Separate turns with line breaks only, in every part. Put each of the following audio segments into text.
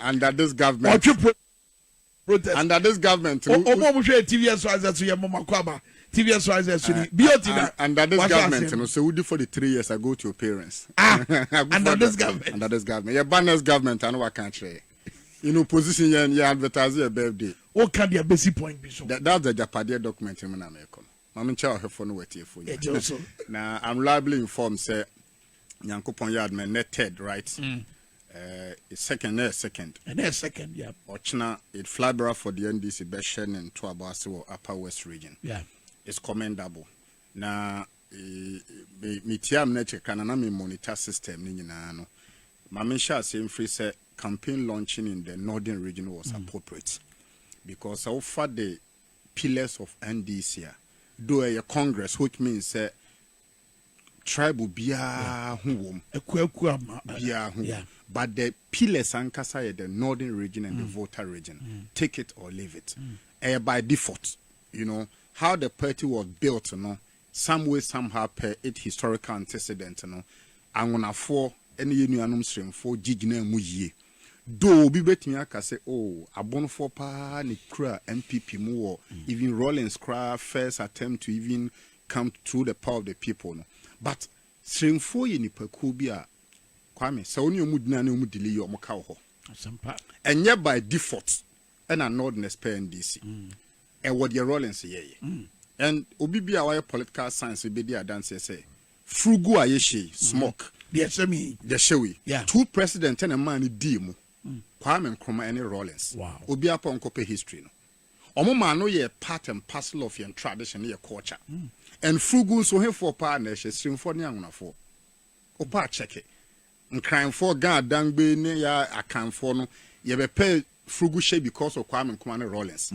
under this government ɔtwe pro
protest under this government
ɔmo ɔmo hwɛ tvs rises so yɛ mɔmɔ akɔ aba tvs rises so ni bio ti na under this government no sɛ wodi for the three years i go to your parents ah under
this government under this government yɛ ba
next government ano wa kan kyerɛ in opposition yɛn yɛ advertise yɛ birthday o kan di abesi
point bi so that that's the japadeɛ
document mu na mɛ kɔ no maame nkyɛn ɔhwɛfo no wɔ atiefo nyɛ na i'm reliably informed sɛ nyankopɔn yɛ adoma ɛnɛ third right mm. uh, second ɛnɛ second ɛnɛ second yeah. ɔkyena it flybra for the ndc bɛhyɛ ne ntoabɔ ase wɔ upper west region yeah. is
commendable
na eh, metia m no akyirika na na me monitor system no nyinaa no ma menhyɛ ase mfiri sɛ campaign launching in the northern region was mm. appropriate because so far the pillars of ndc a do a congress which means sɛ uh, Tribe biara ho wom. Akuakuo ma. Biara ho wom. But the pillars ankasa yɛ the northern region and the Volta region. Take it or leave it. Ɛyɛ by default. You know, how the party was built no, some way somehow per it historical antecedent no, Angonafoɔ ne yɛn nuanom Sremfoɔ gye gyinaa mu yie. Though obi bɛtumi aka sɛ, oh, Abonofoɔ pa ara na ɛkura NPP mu wɔ even Rawlings koraa first attempt to even come through the power of the people no but seremfoɔ yɛ nipakuo bi a kwame sɛ wo ne ɔmo gyina ne ɔmo dili yɛ ɔmo ka wɔ hɔ ɛnyɛ by default ɛna nordness pɛ ndc mm. ɛwɔ deɛ rollins yɛyɛ mm. and obi bi a wayɛ political science bɛdi adanseɛ sɛ frugu a yɛhyɛ mm. smoke deɛ ɛhyɛ mi
deɛ ɛhyɛ wei two
president
ɛna
mmaa ne dii mu kwame nkrumah ɛne rollins obi apɔ nkɔpɛ
history
no Wɔn maa no yɛɛ part and parcel of yɛn tradition ne yɛn culture. And Furugu nso, hefoɔ paa na ɛhyɛ, Sirimfoɔ ne Anwonafoɔ? Wopɛ a kyɛke. Nkranfoɔ, Ga, Dangbe ne yɛ Akanfoɔ no, yɛbɛpɛɛ Furugu hyɛ because of Kwame Nkrumah ne Rawlings.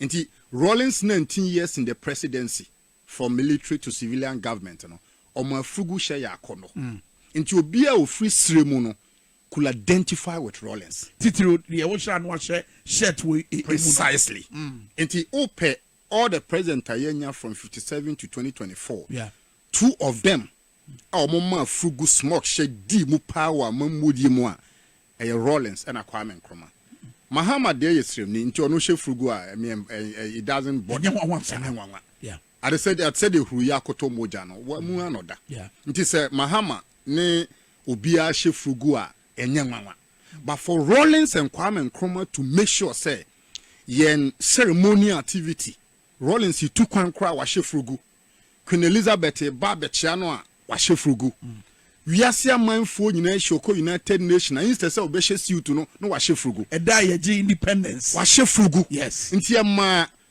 Nti Rawlings 19 years in the presidency, from military to civilian government no, ɔmaa Furugu hyɛ yɛ akɔnnɔ. Nti obiara a ɔfiri Sire mu no, could identify with Rawlings. Titiriw deɛ wohyɛ ano ahyɛ shirt wɔ emu no. Precisely. Nti wopɛ all the president a yɛanya from fifty seven to twenty twenty four,
two of them
a wɔmaa furugu smock hyɛ dii mu paa wɔ amammuodie mu a, ɛyɛ Rawlings ɛna Kwame Nkrumah. Mahama deɛ yɛ sremni nti ɔno hyɛ furugu a, me ɛɛ, it doesn't bother. Ɛnyɛ nwanwa saa. Ɛnyɛ nwanwa.
Ade sɛ, ade
sɛ deɛ huru yi akotɔ mogya no, wɔn mu ara na ɔda. Nti sɛ
Mahama
ne Obiara hyɛ fugu a ɛnyɛ nwanwa but for Rawlings and Kwame Nkrumah to make sure sɛ yɛn ceremonial activity Rawlings tu kwan koraa wahyɛ fugu, Queen Elizabeth reba abɛkyea no a wahyɛ fugu, wiase amanfoɔ nyinaa ahyia ɔkɔ United Nations a instead sɛ ɔbɛhyɛ suit no na wahyɛ fugu. Ɛda a yɛgye
independence. Wahyɛ
fugu.
Yes.
Nti ɛmaa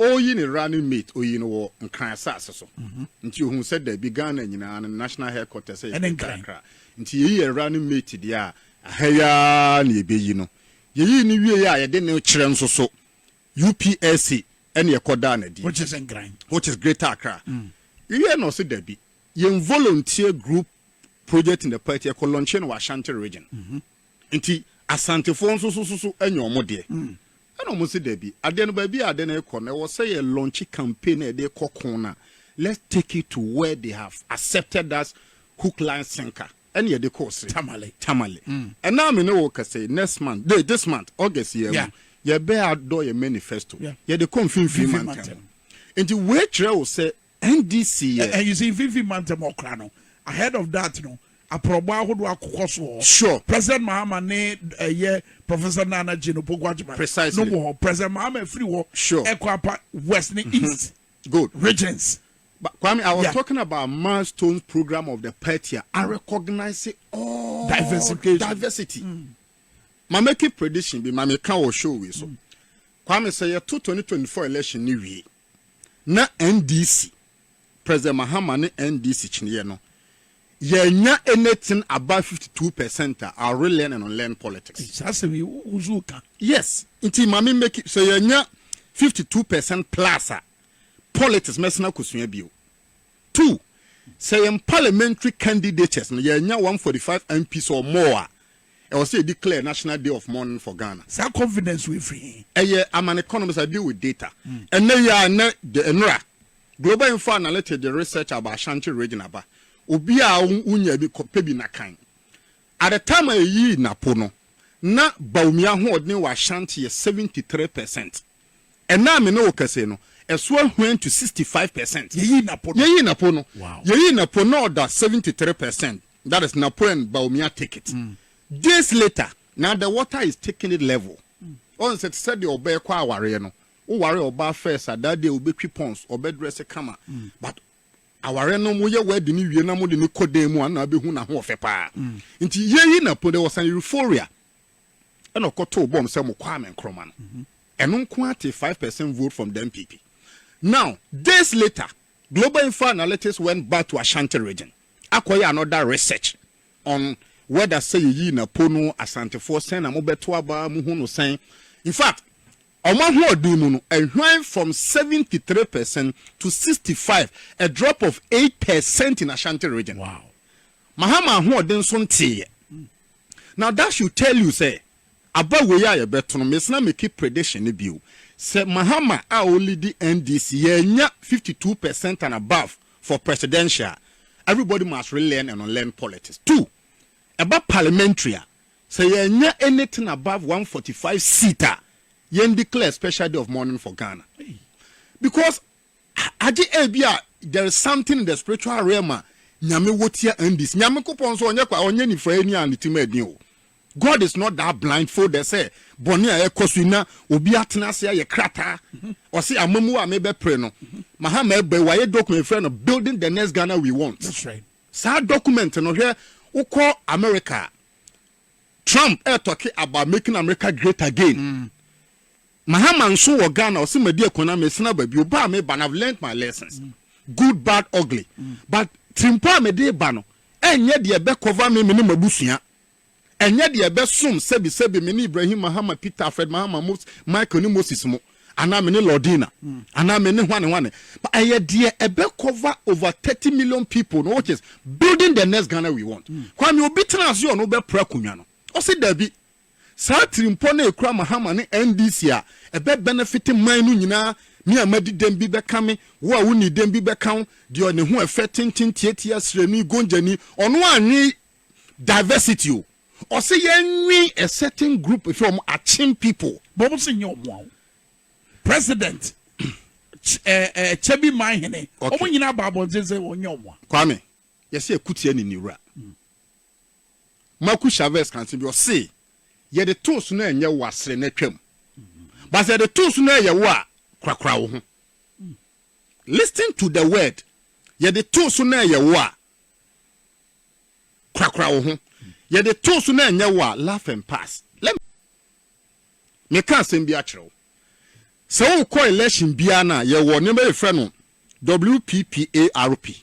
Ɔreyi ne running mate, ɔyii no wɔ Nkran asase so. Nti ɔhuu sɛ daabi, Ghana nyinaa no, ne national headquarters yɛ Greater Nkran. Accra. Nti yɛyi yɛn running mate deɛ a, ɛha yi ara na yɛbɛyi no. Yɛyii no wieeɛ a, yɛde no kyerɛ nso so UPSC ɛna ɛkɔdaa no adi. Which is Nkran. Which
is Greater Accra.
Yɛhwɛɛ na ɔse dabi, yɛn volunteer group project in the party, yɛkɔ launchee no wɔ Ashanti region. Nti Asantefoɔ nso so so so anya wɔn deɛ? Ɛna wɔn se dabi. Adeɛ no baabi a adeɛ no rekɔ no, ɛwɔ sɛ yɛ launch campaign a yɛde rekɔ ko no a, let's take it to where they have accepted us hook, line, sinker. Ɛna yɛde kɔɔ se. Tamale. Tamale. Ɛna me ne wo rekasa yi, next month, de, this month, August yi ara mu, yɛbɛ adɔ yɛn manifesto, yɛde kɔ mfimfini mantam. Nti wei kyerɛ wo sɛ NDC yɛ. And you see Mfimfini
Mantam Ɔkra no ahead of that no aprɔbɔ ahodoɔ akokɔ so hɔ. Sure. President
Mahama ne
ɛyɛ Professor Nana Jane Opoku-Agyemang. Precisely. No wɔ hɔ. President
Mahama
firi hɔ. Sure. Ɛkɔ apa
West
ne East. Good. Regions. But Kwame, I
was yeah. talking about milestones program of the Pertia. I recognize it all diversity. diversity. Mm. My making prediction be my make our show we so. Mm. Kwame say yeah, 2024 election ni we. na NDC, President Mahama ne NDC kyeneeɛ no, yɛannya anything above fifty two percent a, I'll relearn and unlearn politics. Saa asɛm yi, wo nso woka. Yes, nti ma me make, sɛ yɛannya fifty two percent plus a, politics mɛsan akɔsua bio. Two, sɛ yɛn parliamentary candidates no yɛannya one forty five MPs or more a, ɛwɔ sɛ yɛdeclare national day of mourning for Ghana. Saa confidence wei
firi he? Ɛyɛ aman economists,
I deal with data. Ɛnnɛ yi ara, nnɛ, the nnora, Global Info Analytics de research about Ashanti region aba. Obiaa wo wonyaa bi, kɔ pɛ bi na kan. At the time a yɛyii Napo no, na Bawumia ahoɔdene wɔ Ashanti yɛ seventy three percent. Ɛna a me ne wo kɛsee no, ɛso ahuan to sixty five percent. Yɛyii Napo no. Yɛyii Napo no. Wow. Yɛyii Napo na
ɔda
seventy three percent, that is Napo and Bawumia take it. Mm. Days later, na the water is taking it level. Mm. Ɔn sɛ te sɛ deɛ ɔbɛɛ kɔ awareɛ no, wo ware ɔbaa first a, that day wobɛtwi pons, ɔbɛdrɛse kama. Mm. But awareɛ no mo yɛ wɛdi ne wie na mo de ne kɔ dan mu a na abɛhu n'ahoɔfɛ paa. Mm. Nti yɛyi Napo, there was an euphoria. ɛna ɔkɔtoo bɔm sɛ mo Kwame Nkrumah no ɛno nko ara tee five percent vote from the NPP now days later Global Info Analytics went back to Ashanti region akɔyɛ another research on whether sɛ yɛyii Napo no Asantefoɔ sɛn na mobɛto aba mo hu no sɛn in fact wɔn ahoɔden mu no ɛhwan from seventy three percent to sixty five a drop of eight percent in Ashanti region wow
Mahama
ahoɔden nso nteeɛ. Na that should tell you sɛ aba wei a yɛbɛto no mese na meki prediction no bio sɛ Mahama a ɔlidi NDC yɛannya fifty two percent and above for presidential a everybody must relearn and unlearn politics two ɛba parliamentary a sɛ yɛannya anything above one forty five seat a yɛndeclare special day of mourning for Ghana because Agye ebia there is something in the spiritual realm a Nyame wɔ tia Andy's. Nyankopɔn nso ɔnyɛ kwa, ɔnyɛ nifuraeni a ne tirim ɛden o. God is not that blind folded sɛ bɔne a ɛkɔ so yi na obi atena ase ayɛ krataa. Ɔse amamuo a mebɛpere no, Mahama ɛbɔ, wayɛ document yɛfrɛ no Building the Next Ghana We Want. That's right. Saa
document
no hwɛ wokɔ America a, Trump ɛretɔke about making America great again. Mahama nso wɔ Ghana ɔse madi akua na mesene aba bio, ba a meba no I've learnt my lessons, good, bad, ugly but tirimpɔ a mede reba no ɛnyɛ deɛ ɛbɛ cover me mene m'abusua, ɛnyɛ deɛ ɛbɛsom sɛbi sɛbi mene Ibrahim Mahama, Peter, Fred Mahama, Mose, Michael ne Moses mo anaa mene Lordina anaa mene hwane hwane but ɛyɛ deɛ ɛbɛ cover over 30 million people no which is building the next Ghana we want. Kwame Obi tena ase ɔno bɛpra akonnwa no ɔse dabi. Saa atirimpɔ no a ɛkura Mahama ne NDC a ɛbɛ benefite man no nyinaa, me a madi dɛm bi bɛka me, wo a wonnii dɛm bi bɛka wo, deɛ ne ho ɛfɛ tenten tiatia srani, gonjani, ɔno annwen diversity o, ɔse yɛnnwen a certain group hwɛ wɔn akyem people. Bɔ mo se nyɛ wɔn a
o. President, kyɛ bi man hene, wɔn nyinaa ba abɔnten sɛ wɔn nyɛ wɔn a. Kwame,
yɛse akutia ni ne wura. Marcus Chavez ka nsɛm bi, ɔse, Yɛde too so no ɛnyɛ wo a, srɛ na twam. But sɛ yɛde too so no ɛyɛ wo a, korakora wo ho. Listen to the word, Yɛde too so no ɛyɛ wo a, korakora wo ho. Yɛde too so no ɛnyɛ wo a, laugh and pass. Let me meka asɛm bi akyerɛ wo. Sɛ wokɔ election biara no a, yɛwɔ nneɛma yɛfrɛ no WPPARP.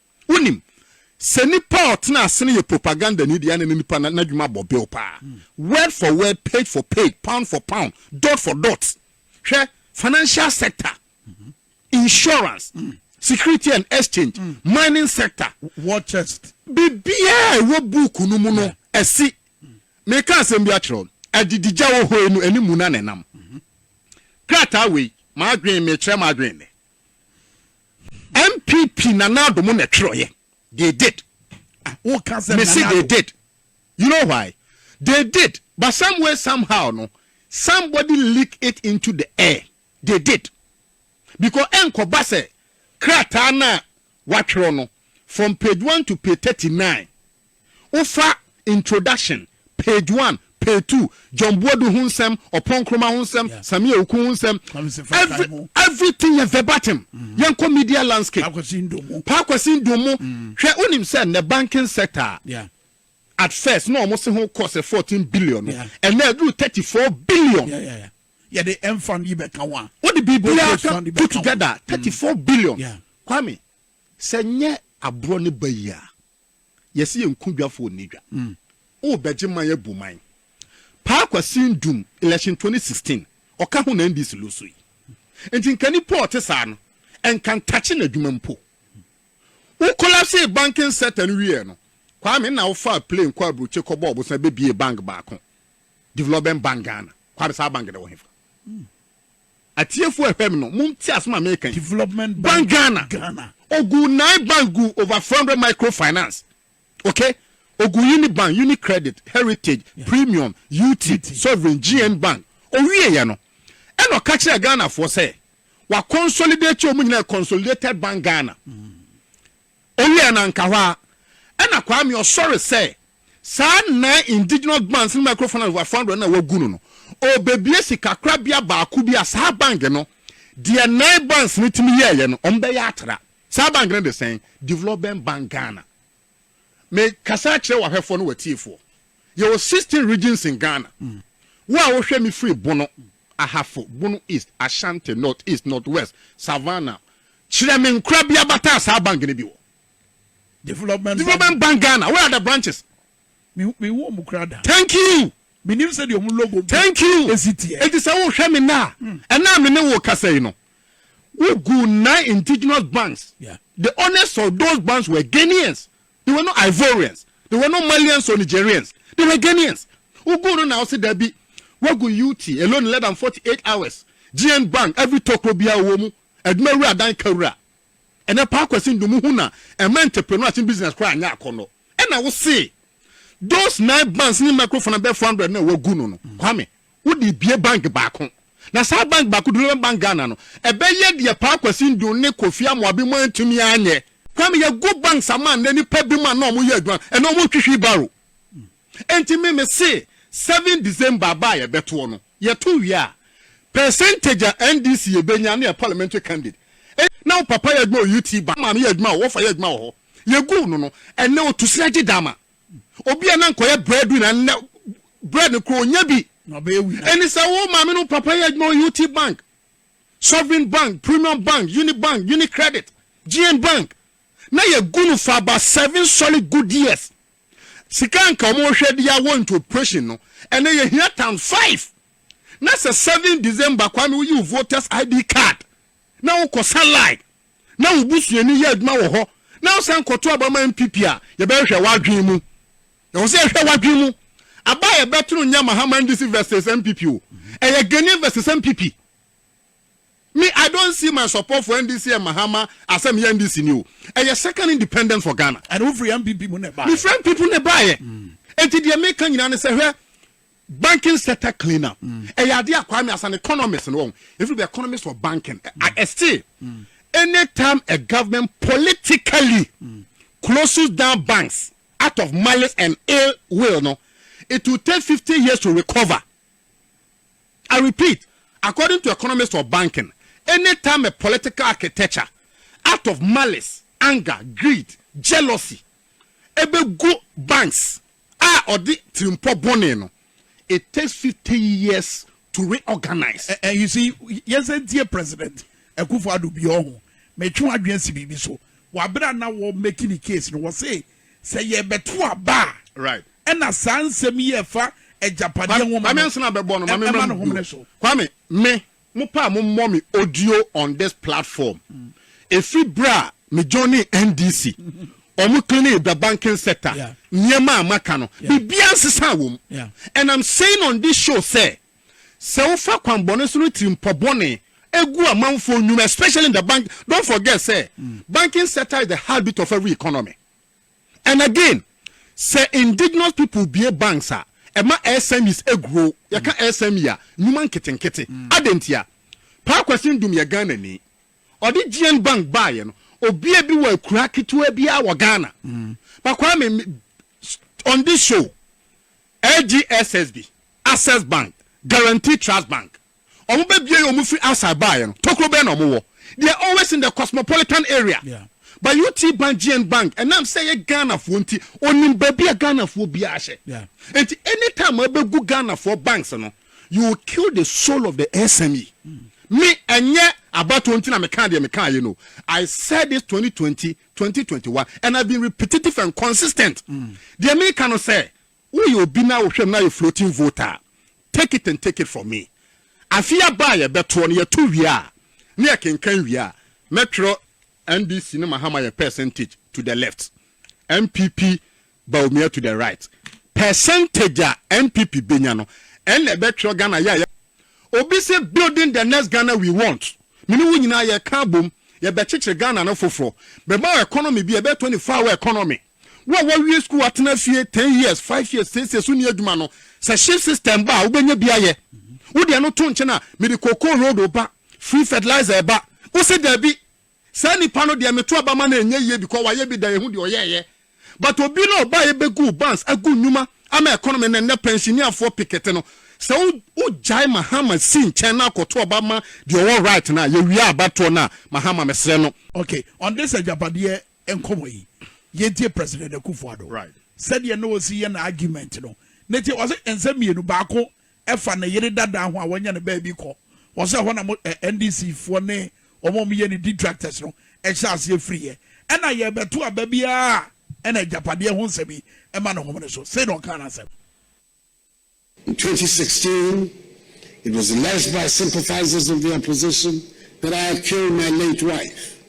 Wonim, sɛ nipa a ɔtena ase no yɛ propagandani deɛ a na ne nipa no n'adwuma bɔ bill paa. Word for word, page for page, pound for pound, dot for dot. Hwɛ, financial sector, insurance, security and exchange, mining sector, War chest.
biribiara a ɛwɔ
book no mu no, ɛsi. Mereka asɛm bi akyerɛ wo no, adidigya wɔ hɔ yi no, anim mu na na ɛnam. Krataa wei, m'adwene, mekyerɛ m'adwene nnɛ. NPP Nana Addo mo na ɛtwerɛeɛ they did me se they did you know why they did but some way somehow no somebody leak it into the air they did because ɛnkɔba sɛ krataa no a wɔatwerɛ no from page one to page thirty nine. Wofa introduction, page one, page two, John Buadu ho nsɛm, Ɔpɔn Nkrumah ho nsɛm, yeah. Sammy Awuku ho nsɛm, every, everything yɛ verbatim. Mm. Yɛnkɔ media landscape. Paakwasi Ndomo. Paakwasi Ndomo. Mm. Hwɛ wonim sɛ nnɛ banking sector yeah.
at first
na wɔn se ho kɔ sɛ fourteen billion no ɛnna ɛduru thirty four billion. Yeah, yeah, yeah. yɛde
ɛnfan yi bɛka ho a, wode biribiara ka
put together a, thirty four billion. Kwame, sɛ nyɛ aborɔ ne ba yi a, yɛse yɛn nku dwafoɔ nni dwa. O bɛgye man abu man. Paa Kwasi Ndum, election twenty sixteen, ɔka ho na NDC lose yi. Nti nka nipa a ɔte saa no, nka ntakye n'adwuma mpo. Wo collapsee banking sector no wieɛ no, Kwame nna wofaa plane kɔɔ aburokye kɔbɔɔ bosan bɛbiee bank baako. Development Bank Ghana. Kwabena saa bank no wɔ hefa? Atiefo a ɛhwɛ me no, monte asɛm a meka yi. Development Bank Ghana.
Ghana.
Ogu nine bank gu over four hundred microfinance. Okay? Ogu Unibank, Unicredit, Heritage, yeah. Premium, UT, UT, Sovereign, GN Bank. Owie yɛ no. Ɛna ɔka kyerɛ Ghanafoɔ sɛ, wa consolidate ɔmo nyinaa consolidated bank Ghana. Mm. Ɔwiɛɛ na nka hɔ ara na Kwame ɔsɔre sɛ saa nnan indigenous bangs ne microfinance wɔ fondren no a wagu no no, ɔrebɛbue sikakorabea baako bi a saa bank no, deɛ nnan bangs no tumi yɛɛeɛ no, wɔbɛyɛ atra. Saa bank no de sɛn? Development Bank Ghana. Mekasa akyerɛ w'ahwɛfoɔ ne w'atiefoɔ. Yɛwɔ sixteen regions in Ghana. Wo a wohwɛ me firi Bono, Ahafo, Bono East, Ashanti, North East, North West, Savannah, Kyerɛ me nkora bi abata a saa bank no bi wɔ. Development Bank Ghana, where are the branches? Menhu
ɔmo koraa da. Thank you.
Menim sɛdeɛ ɔmo
logo Thank you. esi
teɛ. Enti sɛ wohwɛ me nnɛ a, ɛnnɛ a me ne wo kasa yi no, wo gu nine indigenous banks. Yeah. The owners
of
those banks were Ghanaians. They were not Ivorians. They were not Malians or Nigerians. They were Ghanaians. Wo gu no na ɔse dabi. Wagu UT, Eloni Ledan 48 hours, GN Bank, every tokro biara wɔ mu, Adwumawura adan kawura. Ɛnɛ Paa Kwasi Ndumu ho na ɛma entreprenuers ne business koraa nyɛ akɔnnɔ. Ɛna wo se those nine banks ne micro finance bɛyɛ four hundred no a wagu no no, Kwame, wo de bue bank baako. Na saa bank baako, Development Bank Ghana no, ɛbɛyɛ deɛ Paa Kwasi Ndu ne Kofi Amoabi mo antumi anyɛ. Kwame, yɛagu banks ama nnɛ nnipa binom a na wɔyɛ adwuma, ɛnɛ wɔnhwehwi barrow. Enti me me se seven December aba a yɛbɛtoɔ no, yɛto wie a, percentage a NDC yɛbɛnya ne yɛ parliamentary candidate ɛ, na wo papa yɛ adwuma wɔ UT ba, wo maame yɛ adwuma wɔ hɔ, wɔfa yɛ adwuma wɔ hɔ, yɛguu no no, ɛnnɛ ɔtu srɛ gye dama. Obi a na anka ɔyɛ bread winner nnɛ bread no koraa ɔnnya bi. Na ɔbɛyɛ winner. Ɛne
sɛ wo maame ne wo
papa yɛ adwuma wɔ UT bank, Sovereign bank, Premium bank, Uni bank, Uni credit, GN bank, na yɛgu no for about seven solid good years Sika anka ɔmo hwɛ de awɔ into operation no ɛnɛ yɛ hia tan five na sɛ seven December kwame wo yi wo voters ID card na wo kɔ sa line na wo busuani yɛ adwuma wɔ hɔ na wo san kɔto aba ma NPP a yɛ bɛ hwɛ wadwen mu yɛ wɔ sɛ yɛ hwɛ wadwen mu aba yɛ bɛ to no nyɛ Mahaman DC versus NPP o ɛyɛ Ghanaian versus NPP. Me I don't see my support for NDC and Mahama asɛ meyɛ NDC ni o ɛyɛ second independence for Ghana. Ɛna wo firi NPP mu na
ɛbaeɛ. Me firi NPP mu na ɛbaeɛ.
Enti deɛ meka nyinaa ne sɛ hwɛ banking sector clean up ɛyɛ adeɛ a Kwame as an economist no wɔn ɛfiri the economist of banking I, I still anytime a government politically closes down banks out of malice and ill will no it will take fifty years to recover. I repeat, according to economist of banking, any time a political architecture out of malice, anger, greed, jealousy ɛbɛgu banks a ɔde tirimpɔ bɔne no, it takes fifty years to reorganize. And you see,
yɛnsan ntie President Akufo-Addo bio, ɔho, metwe w'adwene asi biribi so, wɔ bere a na wɔremake ne case no, wɔse Sɛ yɛrebɛto aba a, ɛna
saa nsɛm
yi a ɛfa agyapadeɛ nwoma no, ɛma no homene
so. Kwame, me, mo pɛ a mo mmɔ me audio on this platform. Ɛfiri berɛ a me joinee NDC, wɔn cleaning the banking sector, nneɛma a maka no, biribiara nsesaa wɔ mu. And I'm saying on this show sɛ, Sɛ wofa kwan bɔne so no tirimpɔ bɔne gu amanfoɔ nnwuma especially in the bank don't forget sɛ mm. banking sector is the heartbeat of every economy and again sɛ indigenous people bie banks a ɛma SMEs grow yɛka mm. SME a nnwuma nketenkete mm. adentia paa kwasi ndum yɛ Ghana ni ɔde GN bank baayɛ no obia bi wɔ akura ketewa biara wɔ Ghana mm. bakwaa me on this show AGSSB, Access Bank, Guaranty Trust Bank, wɔn bɛbue yɛ wɔn firi outside baeɛ no, tokuro bɛn na wɔn wɔ? They are always in the cosmopolitan area. Yeah. But UT Bank, GN Bank, ɛnam sɛ yɛ Ghanafoɔ nti, onim baabi a Ghanafoɔ biara hyɛ. Yeah. Nti anytime abɛgu Ghanafoɔ banks no, you will kill the soul of the SME. Mm. Me ɛnyɛ abatoɔ nti na mekaa deɛ mekaa yɛ no. I said this 2020 twenty twenty one and I been repetitive and consistent mm. deɛ mi ka no sɛ woyɛ obi na wohwɛ mu na yɛ floating voter take it and take it from me afi aba a yɛbɛtoɔ no yɛto wie a ne yɛ kenkan wie a mɛtwerɛ NDC ne mahama yɛ percentage to the left NPP Bawumia to the right. Percentage a NPP bɛnya no, ɛnna ɛbɛtwerɛ Ghana yɛ a yɛbɛyɛ. Obi se building the next Ghana we want. Me ne wo nyinaa yɛka abom, yɛbɛkyekyere Ghana no foforɔ. Bɛma wo economy bi a ɛbɛyɛ 24 hour economy. Wo a woawie sukuu atena fie ten years, five years, seesei so nni adwuma no, sɛ shift system ba a, wobɛnya bi ayɛ. Wo deɛ no to nkyɛn a, mede cocoa road reba, free fertilizer reba. Wose daabi, Saa nipa no deɛ meto aba ma no ɛnyɛ yie because wayɛ bi da yɛhu deɛ ɔyɛɛyɛ but obi no ɔbaeɛ bɛguu bans agu nnwuma ama economy na nnɛ pɛnhyineafoɔ pikete no sɛ wo wogyae Mahama si nkyɛn na akɔto aba ma deɛ ɔwɔ right no a yɛwie abatoɔ no a Mahama mesrɛ no Ok on this
agyapadeɛ nkɔmɔ yi yɛntie President Akufo-Addo sɛdeɛ na
ɔsi
yɛ na argument no ne te ɔse nsɛm mmienu baako ɛfa ne yere dadaa ho a wɔnyɛ no baabi kɔ hɔ sɛ ɛhɔ na mo NDC foɔ ne wɔn a wɔyɛ ne detractors no hyɛ aseɛ firiiɛ. Ɛna yɛrebɛto aba biara a ɛna agyapadeɛ ho nsɛm yi ma no homene so, sei na ɔkaa n'asɛm. In twenty
sixteen, it was the Les Bas sympathizers of the opposition that I had killed my late wife.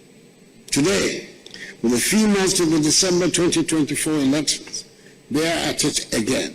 Today, with a few months to the December twenty twenty four elections, they are at it again.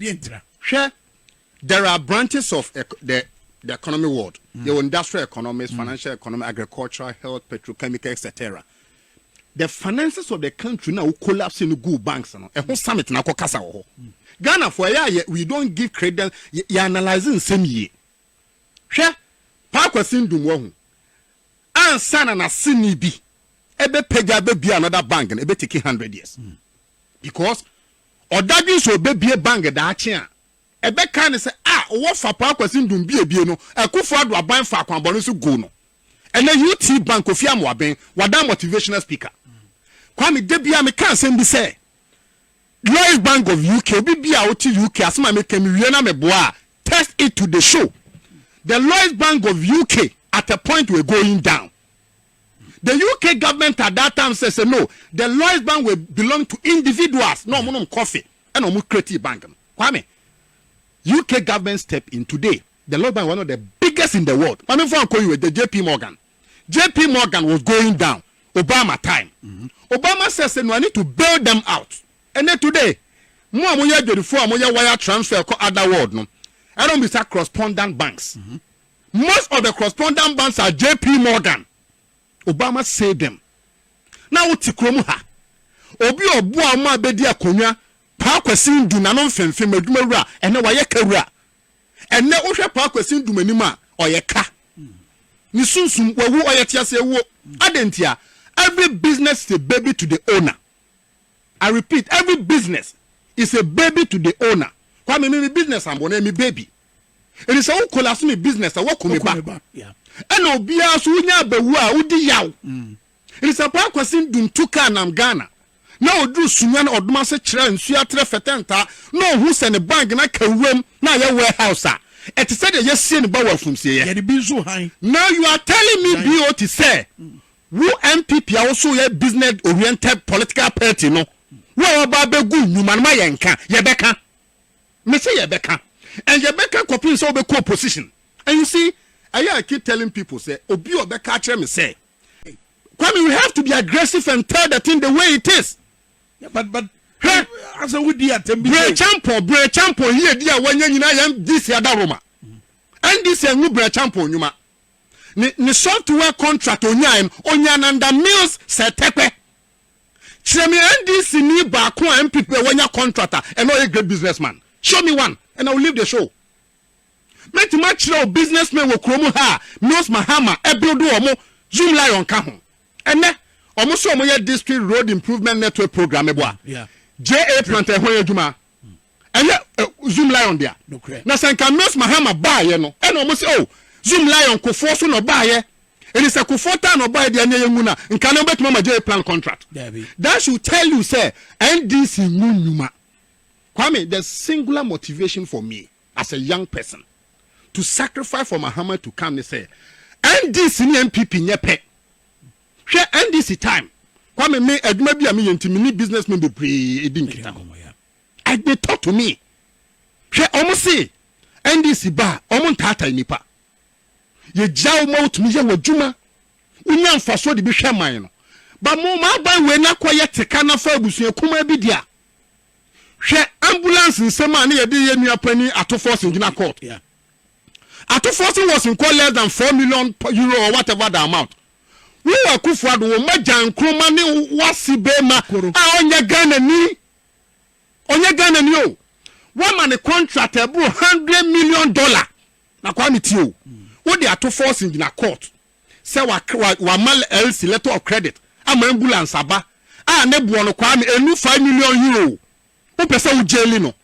Deɛ nti na. Hwɛ, there are branches of the the economy world. Yɛwɔ industrial economics, financial economics, agricultural, health, petrochemical, etc. The finances of the country na wo collapse no guu banks no, ɛho summit na akɔkasa wɔ hɔ. Ghanafoɔ ɛyɛ a yɛ we don't give credence, yɛ yɛ analyse nsɛm yie. Hwɛ, Paa Kwasi Ndum wahu, ansa na n'aseni bi ɛbɛpagya abɛbue another bank no, ɛbɛteki hundred years because Ɔdadwen sɛ ɔbɛbue bank daakye a, ɛbɛkae no sɛ, Ah, wowɔ Fapaa Kwasi Ndum biebie no, Akufo Addo aban faa kwammɔne so guu no. Ɛnnɛ UT Bank, Kofi Amoaben, wadan motivational speaker. Kwame, da biara meka asɛm bi sɛ, Lloyds Bank of UK, obi biara a ɔte UK, asɛm a meka mewie na meboa a, text it to the show. The Lloyds Bank of UK at a point were going down. The UK government at that time said sɛ no, the Lloyds Bank were belong to individuals na wɔn nom kɔfe ɛna wɔn create bank no. Kwame, UK government step in today, the Lloyds Bank one of the biggest in the world. Maame fo ankɔ US, the JP Morgan, JP Morgan was going down Obama time. Obama said sɛ no, I need to bail them out. Ɛnɛ today, mo a moyɛ adwadifo a moyɛ wire transfer kɔ other world no, ɛna wɔn bisa cross-pondant banks. Most of the correspondent banks are JP Morgan, Obama said them na wo te kurom ha obi a ɔboa wɔn a bedi akonnwa Paa Kwasi Ndu nano mfemfem adwuma wura ɛnɛ wayɛ ka wura ɛnɛ wohwɛ Paa Kwasi Ndu m'anim a ɔyɛ ka ne sunsum wawu ɔyɛ tease awuo adɛn ntia every business is a baby to the owner I repeat every business is a baby to the owner Kwame me me business ambo na ɛyɛ me baby. Enti sɛ wo kolaase me business a, woaku me ba. Ɛna
obiara nso
wonya abawu a, wodi yaw. Enti sɛ Paa Kwasin Dum tu kaa nam Ghana na oduru Sunyani Ɔdom ase kyerɛ nsuo aterɛ fɛtɛ ntaa na ohu sɛ ne bag no aka wuram na ayɛ warehouse a, ɛte sɛ deɛ yɛasie ne ba wɔ afumsieɛ.
Now you are telling
me BOT sɛ wo NPP a woso yɛ business oriented political party no, wo a waba abɛgu nnwuma no ma yɛnka, yɛbɛka. Me se yɛbɛka and yɛbɛka kɔpem sɛ wobɛkɔ opposition and you see ɛyɛ I keep telling people sɛ obi a ɔbɛka akyerɛ me sɛ Kwame you have to be aggressive and tell the thing the way it is Yeah, but but
hwɛ asɛ wodi atɛm bi brɛ champon brɛ
champon yie di a wanya nyinaa yɛn DC ada Roma NDC angu brɛ champon nnwuma ne ne software contract onyae no onyananda mills sɛ tɛpɛ Kyerɛ me NDC ni baako a MP pɛ wanya contract a ɛna ɔyɛ great business man. Show me one and I will leave the show. Mɛtumi akyerɛ wo business men wɔ kuro mu ha a Mills Mahama ɛbuild wɔn, Zoom Lion ka ho. Ɛnɛ wɔn so wɔn yɛ district road improvement network program mɛboa JA
Planter ɛho
yɛ adwuma. Ɛnyɛ Zoomlion dea. Na sɛ nka Miss Mahama baayɛ no ɛna ɔmo se oh Zoomlion Kufoɔ so na ɔbaayɛ. Enti sɛ Kufoɔ taa na ɔbaayɛ dea neɛ yɛ ngu no a nka no bɛtumi ama Jay Plan contract. That should tell you sɛ NDC ngu nnwuma. Kwame the singular motivation for me as a young person to sacrifice for Mahama to come ne sɛ NDC ne NPP nyɛ pɛ. Hwɛ NDC time Kwame me adwuma bi a meyɛ nti me ne businessmen bebree di nkitaho. I they talk to me hwɛ ɔmo se NDC ba a ɔmo ntaatai nipa yɛ gyia wo ma wo tumi yɛ w'adwuma wo nya nfasoɔ de bi hwɛ man no ba mo ma aban wei na kɔ yɛ teka na fa abusua kumaa bi dea hwɛ ambulance nsem a ne yɛ de yɛ nua panin ato forcing gyina court yeah.
ato
forcing was in court less than 4 million euro or whatever the amount wo wɔ akufoɔ ado wo ma gyan nkroma ne wasi bema a ɔnyɛ Ghana ni Ɔnyɛ Ghana ni o. Wama ne contract ɛboro hundred million dollar. Na Kwame tie o. Wode ato forcing gyina court sɛ wama LC, letter of credit, ama ambulance aba a ne boɔ no Kwame ɛnnu five million euro. Wopɛ sɛ wo jaili no.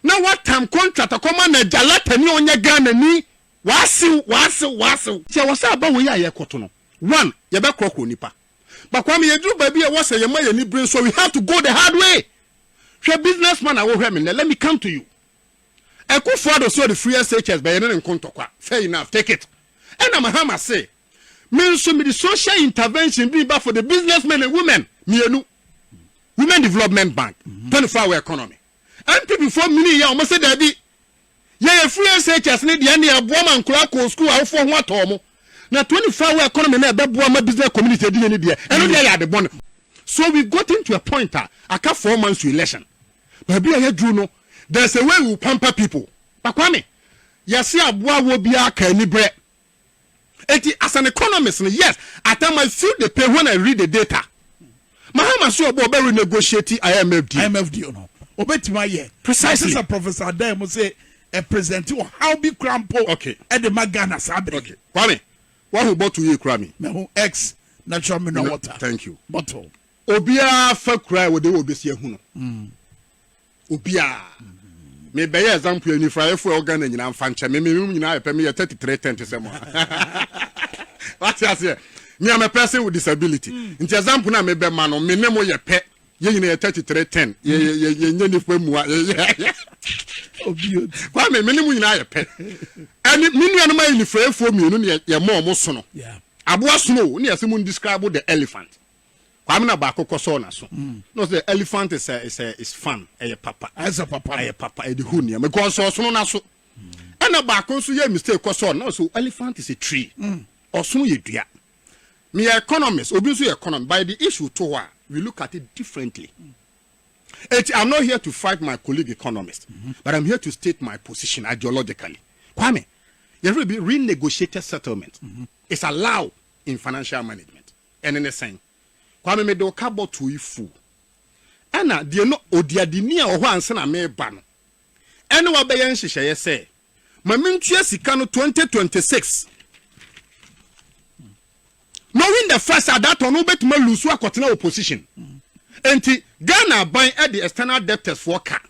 Na watam contract akɔma n'agya Latter ni a ɔnyɛ Ghana ni. W'asew, w'asew, w'asew. Nti ɛwɔ sɛ aba wei a yɛkɔto no. One, yɛbɛkorɔkorɔ nipa. But Kwame yɛduru baabi a ɛwɔ sɛ yɛma yɛn ani bere nso we have to go the hard way. Hwɛ business man a wohwɛ me nnɛ, let me come to you. Akufo Addo sɛ ɔde firi SHS ba yɛne ne nko ntɔkwa, fair enough, take it. Ɛna Mahama se me nso mede social intervention bi ba for the business men and women mmienu. Women Development Bank, 24 hour economy. NPP foɔ mini yɛ wɔn sɛ daabi. Yɛyɛ free SHS no deɛ ɛnneɛ ɛboa ma nkwadaa kɔɔ sukuu awofoɔ ho atɔ wɔn na 24 hour economy no ɛbɛboa ma business community adi yɛn ni deɛ ɛno deɛ yɛ ade bɔne so we've gotten to a point a aka four months to election baabi a yɛduru no there's a way we will pamper people Bakwame yɛse aboa wɔ biara ka ani berɛ Enti as an economist no yes at time I feel the pain when I read the data. Mahama so ɔbɔ ɔbɛ renegotiate IMF deal. IMF deal no ɔbɛtumi ayɛ.
Precisely. Ɛsɛ sɛ Professor
Adan mu
sɛ ɛpresente ɔhaw bi kura mpo okay. ɛde ma
Ghana saa
bere. Okay. Kwame,
wahu bottle yie kura mi. Mahu X
natural mineral water. Thank you. Bottle. Obiara fa
kura a wɔde wɔ besi ehu no. Mm. Obiaa. Me bɛyɛ example anifuraeɛfoɔ ɛwɔ Ghana nyinaa nfa nkyɛ me me room nyinaa yɛ pɛ me yɛ 33 tent sɛ mo wate aseɛ me am a person with disability mm. nti example na me bɛ ma no me ne mo yɛ pɛ yɛ nyina yɛ 33 10 yɛ yɛ yɛ yɛ nyɛ nipa mua yɛ yɛ
kwa me me ne mo nyinaa yɛ
pɛ ɛni me nuanom ayɛ nifuraefoɔ mmienu ne yɛ mɔ ɔmo sono aboa sono
ne
yɛ se mo describe the elephant. Kwame na baako kɔ sɔɔ n'aso na ɔsɛ dɛ elephant is a is a is fun ɛyɛ papa ɛsɛ papa ɛyɛ
papa ɛde hu nneɛma
kɔ ɔsɔ ɔsono n'aso ɛna baako nso yɛ mistake kɔ sɔɔ na ɔsɛ elephant is a tree ɔsono yɛ dua meyɛ economist obi nso yɛ economist by the issue to hɔ a we look at it differently eti i'm not here to fight my colleague economist but i'm here to state my position ideologically Kwame yɛrɛ bi renegotiated settlement is allowed in financial management. Ɛne ne sɛn? Kwame mede wo ka bɔtoo yi full. Ɛna deɛ no odiadini a ɔhɔ ansa na meba no ɛne wabɛyɛ nhyehyɛeɛ sɛ ma mentua sika no 2026 knowing the fact sɛ at that time no wobɛtumi alusu akɔtena opposition nti Ghana aban de external debtors foɔ ka,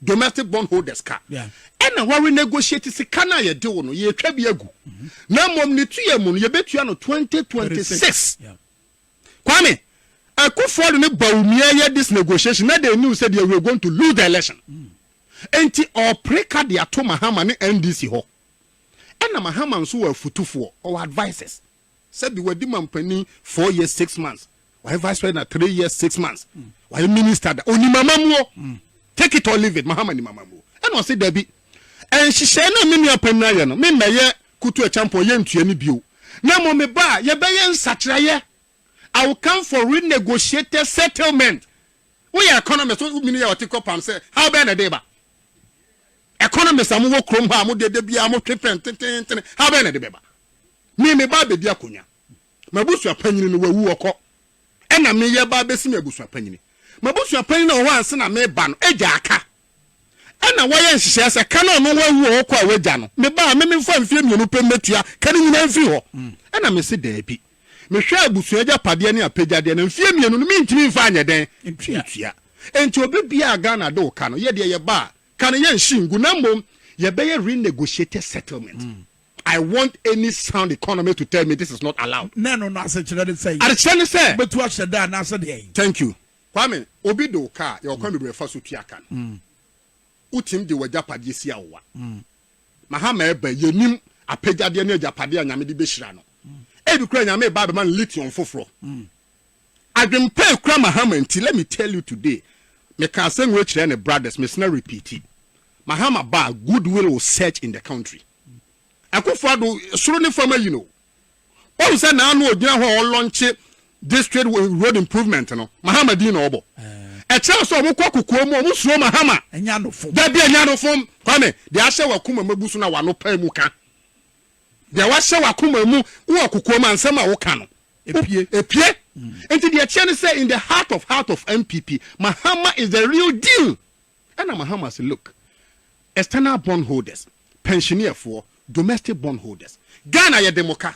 domestic bond holders ka, ɛna wa renegotiate sika no a yɛde wo no yɛretwa bi agu na mmom ne tuiɛ mu no yɛbɛtua no twenty twenty six. Kwame Akuffo Addo ne Bawumia yɛ this negotiation na they knew sɛ deɛ we are going to lose the election nti ɔrepere ka de ato Mahama ne NDC hɔ ɛna Mahama nso wɔ afutufoɔ, ɔwɔ advisers. Sɛbi wadi mampanin four years six months wayɛ vice president three years six months wayɛ minister da onim amamuo take it or leave it mahama nim amamuo ɛna ɔse dabi nhyehyɛe na me nua panyin ayɛ no memmɛyɛ kutu ɛkyampɔn yɛ ntua ne bio na mmom me ba a yɛbɛyɛ nsakyerɛyɛ I will come for renegotiated settlement woyɛ economist womini yɛ ɔte kɔ pam sɛ how bɛn na ɛde ba economist a mowɔ kurom hɔ a mode ɛda biara motwe fɛn tententene how bɛn na ɛde bɛba Me meba abɛdi akonwa. M'abusua panyini no wawu ɔkɔ. Ɛna me yɛba abɛsi me abusua panyini. M'abusua panyini a ɔwɔ hɔ ansa na meba no agya aka. Ɛna wayɛ nhyehyɛɛ sɛ ka no a ɔno wawu ɔwɔ kɔ a wagya no meba a me memfa mfeɛ mmienu pɛ mmɛtua ka no nyinaa mfiri hɔ. Ɛna me se daabi. Me hwɛ abusua agyapadeɛ ne apɛgyadeɛ no mfeɛ mmienu no mentumi mfa nyɛ dɛn ntua. Enti obi biara a Ghana de wo ka no yɛ deɛ yɛba a ka no yɛnhye ngu na mmom yɛbɛyɛ renegotiated settlement. I want any sound economy to tell me this is not allowed. Na ɛno no asekyerɛ ne
sɛn? Adekyerɛ ne sɛ. Wobɛtu
ahyɛ da anaasɛ
deɛn? Thank you. Kwame,
obi de wo ka a, yɛwɔ kwan bebree fa so tua ka no. Wotumi de w'agyapadeɛ si awowa. Mahama ɛba yi, yɛnim apɛgyadeɛ ne agyapadeɛ a Nyame de bɛhyira no. Ebi koraa Nyame reba abɛma no lithium foforɔ. Adwempa a ɛkura Mahama nti, let me tell you today, meka asɛm wei kyerɛ ne brothers, mesena repeati, Mahama ba a, good will will search in the country. Akufo Addo, soro ne fam ayi no. Wahu sɛ naano ogyina hɔ a ɔlɔnkye district road improvement no, Mahama din na ɔbɔ. Ɛkyerɛ sɛ ɔmo kɔ kokoa mu, ɔmo suro Mahama. Nyanofom. Dabi
anyanofom.
Kwame, deɛ ahyɛ w'akoma mu abu so na w'ano pae mu ka. Deɛ wahyɛ w'akoma mu wɔ kokoa mu a nsɛm a woka no, Epie. epie. Nti deɛ ɛteɛ ne sɛ in the heart of heart of NPP, Mahama is the real deal. Ɛna Mahama se look, external bond holders, pɛnhyeneɛfoɔ, domestic bond holders, Ghana yɛde mo ka.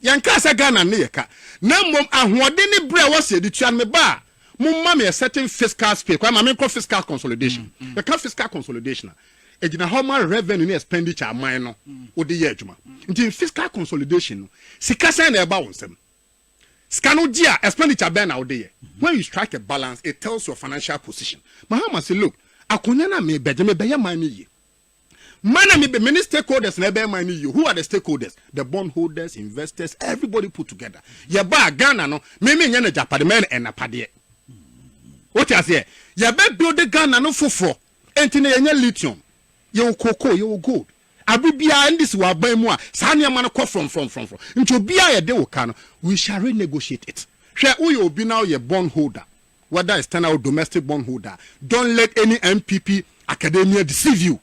Yɛnkaa sɛ Ghana nne yɛ ka, na mmom ahoɔden ne berɛ a ɛwɔ se yɛde tua no. Meba a, momma me a certain fiscal space, kwaa ma menkɔ fiscal consolidation. Yɛka fiscal consolidation a, ɛgyina hɔ ma revenue ne expenditure a aman no wode yɛ adwuma. Nti fiscal consolidation no, sika sɛn na ɛba wo nsam? Sika no gye a, expenditure bɛn na wode yɛ? When you strike a balance, it tells your financial position. Mahama se, Look, akonya no a mebɛgye, mebɛyɛ man no yie. Man a mebɛ, mene stakeholders na ɛbɛyɛ man no yie. Who are the stakeholders? The bondholders, investors, everybody put together. Yɛba a, Ghana no, me menyɛ n'agyapade, mɛyɛ no ɛnapadeɛ. Wote aseɛ? Yɛbɛ build Ghana no foforɔ. Enti na yɛnya lithium, yɛwɔ cocoa, yɛwɔ gold. Bere biara ɛnde si w'aban mu a, saa nneɛma no kɔ frɔmfrɔmfrɔmfrɔm. Enti obiara a yɛde wo ka no, we shall renegotiate it. Hwɛ, woyɛ obi na woyɛ bond holder, whether external or domestic bond holder a, don't let any NPP academia deceive you.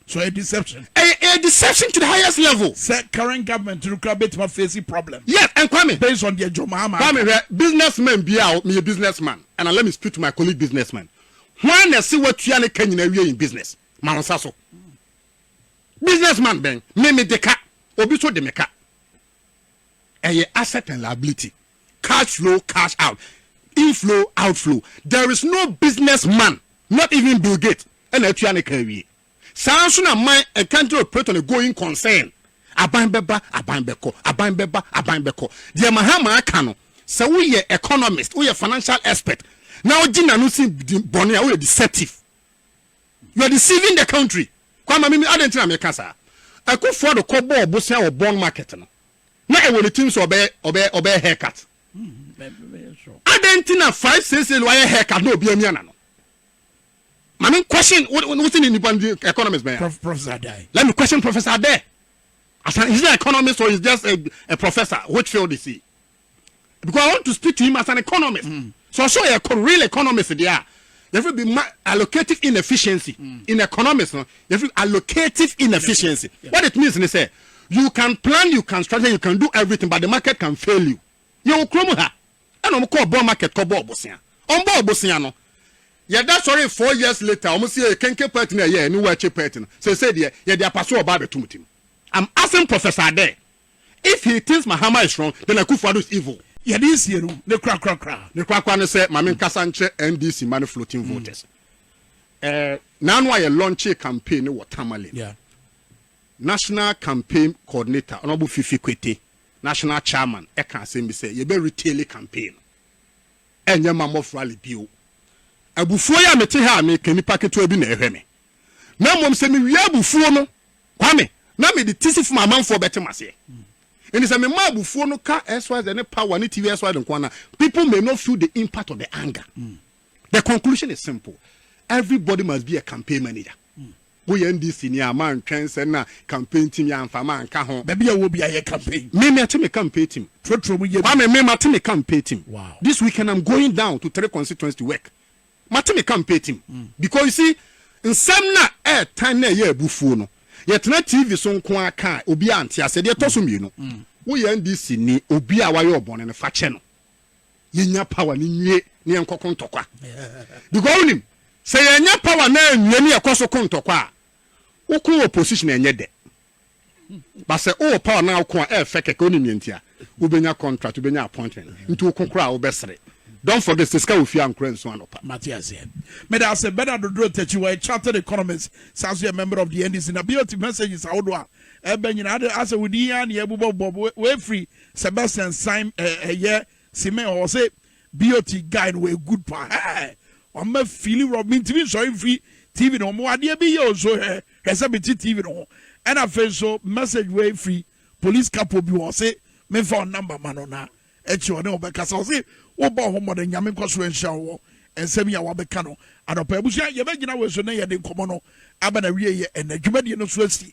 So
ɛyɛ deception? Ɛyɛ, ɛyɛ deception
to the highest level. Sɛ current government
no koraa bɛtumi afeesi problem. Yes, and Kwame. Based
on deɛ Jomo Ama aka.
Kwame hwɛ, businessman
biara a, meyɛ businessman and let me speak to my colleague businessman, hwan na ɛse watua ne ka nyinaa awie in business? ma wo nsa so. Business man bɛn? Me me de ka, obi so de me ka. Ɛyɛ asset and liability. Cash flow, cash out. Inflow, outflow. There is no business man, not even Bill Gates, ɛna atua ne ka awie. Saa nso na man and country operator ne going concern. Aban bɛba, aban bɛkɔ, aban bɛba, aban bɛkɔ. Deɛ Mahama aka no, sɛ woyɛ economist, woyɛ financial expert, na wogye n'ano si bɔne a, woyɛ deceptive. You are deceiving the country. Kwa ma mimi adɛn nti na meka saa? Akufo Addo kɔ bɔɔ bosea wɔ Bon Market no na ɛwɔ ne tirim sɛ ɔbɛyɛ ɔbɛyɛ ɔbɛyɛ haircut. Adɛn nti na five sese no ayɛ haircut na obi amia na no? Maame n question wosi ne nipa ndi economist bɛn? Prof, professor Adai. Let me
question Professor
Adai. As an, is he an economist or is just a, a professor? Which field is he? because I want to speak to him as an economist. Mm. So so yɛ real economist deɛ a yɛfrɛ bi ma allocative inefficiency mm. in economics no yɛfrɛ allocative inefficiency. Yeah. What it means ne sɛ you can plan you can strategy you can do everything but the market can fail you. Yɛ wɔ kurom ha ɛna wɔn kɔɔ bɔɔl market kɔ bɔɔl bosia wɔn bɔɔl bosia no yɛda sɔre four years later wɔn si yɛ kenke pɛt na ɛyɛ ɛni wɔakye pɛt no sese deɛ yɛde apaso ɔbaa bɛtum tim. I'm asking Professor Ade. If he thinks Mahama is strong then Akuffo Addo is evil. Yɛde nsie no
ne kora kora kora. Ne kora kora ne sɛ
ma me nkasa nkyerɛ NDC mma ne floating voters. Eh, naanu a yɛ launchee campaign no wɔ Tamale no,
National
Campaign Coordinator Honourable Fifi Kwete, National Chairman, ɛka asɛm bi sɛ yɛbɛ retail campaign no, ɛnyɛ ma mof rally bio. Abufuo yi a mete ha a meka nipa ketewa bi na ɛhwɛ me. Na mmom sɛ mewie abufuo no, Kwame, na me de tisi fam amanfoɔ bɛte m'aseɛ. Enti sɛ mema abufuo no ka xyz ne power ne TV xyz nko ara no a, people may not feel the impact of the anger. The conclusion is simple, everybody must be a campaign manager. Woyɛ NDC ni a, mantwɛn sɛ na campaign team yɛ amfa manka ho. Baabi a wowɔ biara yɛ campaign.
Me, mate me campaign
team. Trɔtrɔ mu yɛ bi. Kwame, me, mate me campaign team. This weekend I'm
going
down to three constituents to work. Mate me ka mpɛ tim because you see nsɛm no a ɛɛtan na ɛyɛ abufuo no yɛtena TV so nko ara ka a obiara nte aseɛ. Deɛ ɛtɔ so mmienu woyɛ NDC ni obi a wayɛ wo bɔne no fa kyɛ no yɛnya power no nwie na yɛnkɔ ko ntɔkwa because wonim sɛ yɛnya power no anwie na yɛkɔ so ko ntɔkwa a woko opposition ɛnyɛ dɛ. But sɛ wowɔ power na woko a ɛyɛ fɛ kɛkɛ, wonim nea nti a? Wobɛnya contract, wobɛnya appointment, nti woko koraa a wobɛsere. Don't forget sɛ sika wɔ fie a nkora nsu anɔpa. Mate aseɛ. Meda
ase. Bernard Dodro Takyi, ɔyɛ chartered economist, san nso yɛ member of the NDC. Na BOT messages ahodoɔ a ɛreba nyinaa, ade asɛ wo din ara na yɛrebobɔbobɔ, wei firi Sebastian Saim, ɛyɛ. Simei hɔ ɔse BOT guy no wɔyɛ good paa hɛɛ wɔn ma fili rɔ mentimi nsɔre mfiri TV no ho mewɔ adeɛ bi yɛ o nso hwɛ hwɛ sɛ mete TV no ho ɛna afei nso message wei firi police kapo bi hɔ ɔse memfa wɔn number ma no na ɛkyi ɔne ɔbɛkasa ɔse wobɔ ho mmɔden nyame nkɔ so nhyira wɔ nsɛm yi a wabɛka no anɔpa abusua yɛbɛgyina wei so na yɛde nkɔmmɔ no aba na wie yɛ ɛnɛ dwumadie no so asi